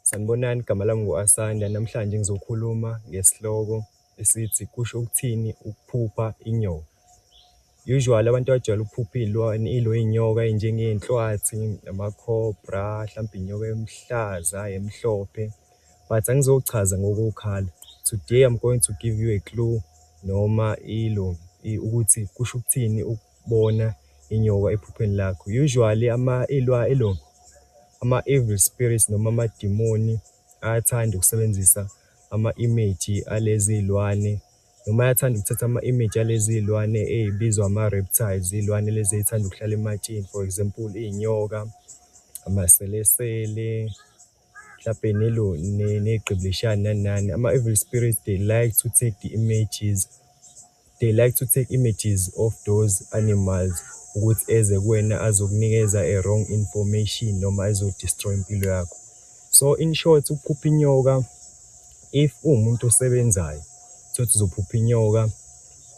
Sanibonani, igama lami ngu-Asanda. Namhlanje ngizokhuluma ngesihloko esithi kusho ukuthini ukuphupha inyoka. Usually abantu abajwayele ukuphupha iy'lwane ilo iy'nyoka ey'njengey'nhlwathi, ama-cobra, hlampe inyoka emhlaza, emhlophe but angizochaza ngokokhala. Today I'm going to give you a clue noma ilo ukuthi kusho ukuthini . bona inyoka ephupheni lakho usually ama ilwa elo ama evil spirits noma amadimoni ayathanda ukusebenzisa ama image alezi ilwane noma ayathanda ukuthatha ama image alezi ilwane ezibizwa ama reptiles ilwane lezi ezithanda ukuhlala ematsheni for example izinyoka amaselesele mhlawumbe nelo negqiblishani nani nani ama-evil spirits they like to take the images they like to take images of those animals ukuthi eze kuwena azokunikeza a wrong information noma ezodestroy impilo yakho so in short ukuphupha inyoka if uwumuntu osebenzayo sothi uzophupha inyoka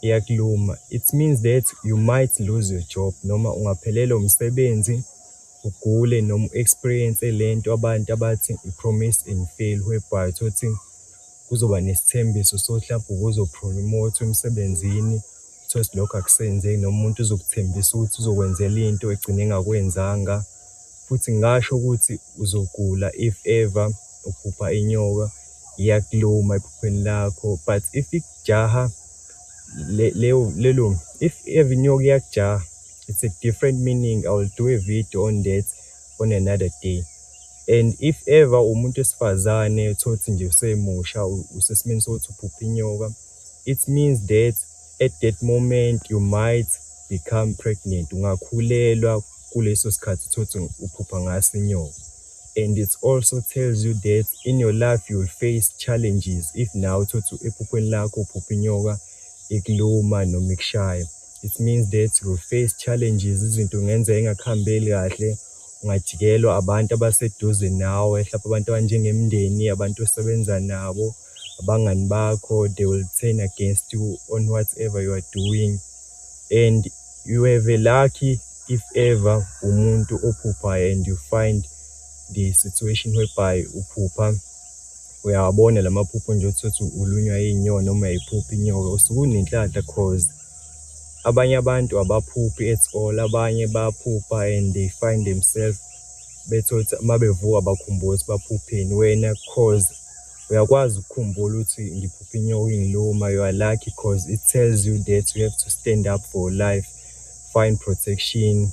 iyakuluma it means that you might lose your job noma ungaphelelwa umsebenzi ugule noma u experience lento abantu abathi i promise and fail whereby thothi kuzoba nesithembiso sokuthi lapho ubuzo promote emsebenzini thothi lokho akusenzeki noma umuntu uzokuthembisa ukuthi uzokwenzela into egcine engakwenzanga futhi ngasho ukuthi uzogula if ever uphupha inyoka iyakuluma ephupheni lakho but if ikujaha lelo if ever inyoka iyakujaha it's a different meaning i will do a video on that on another day and if ever umuntu esifazane uthothi nje usemusha usesimeni sokuthi uphupha inyoka it means that at that moment you might become pregnant ungakhulelwa kuleso sikhathi uthothi uphupha ngaso inyoka and it also tells you that in your life you will face challenges if now uthothi ephuphweni lakho uphupha inyoka ikuluma noma ikushaya It means that you face challenges, izinto ngenzeka engakuhambeli kahle, ungajikelwa abantu abaseduze nawe, mhlawumbe abantu abanjengemndeni, abantu osebenza nabo, abangani bakho, they will turn against you on whatever you are doing. And you have a lucky if ever umuntu ophuphayo and you find the situation whereby uphupha uyawabona la maphupho nje ukuthi uthi ulunywa iy'nyoni noma yiphupha inyoka usuke unenhlanhla cause Abanye abantu abaphuphi at all, abanye bayaphupha and they find themselves bethole ukuthi uma bevuka bakhumbula ukuthi baphupheni. Wena cause uyakwazi ukukhumbula ukuthi ngiphuphe inyoka ingiluma, you are lucky cause it tells you that you have to stand up for life, find protection.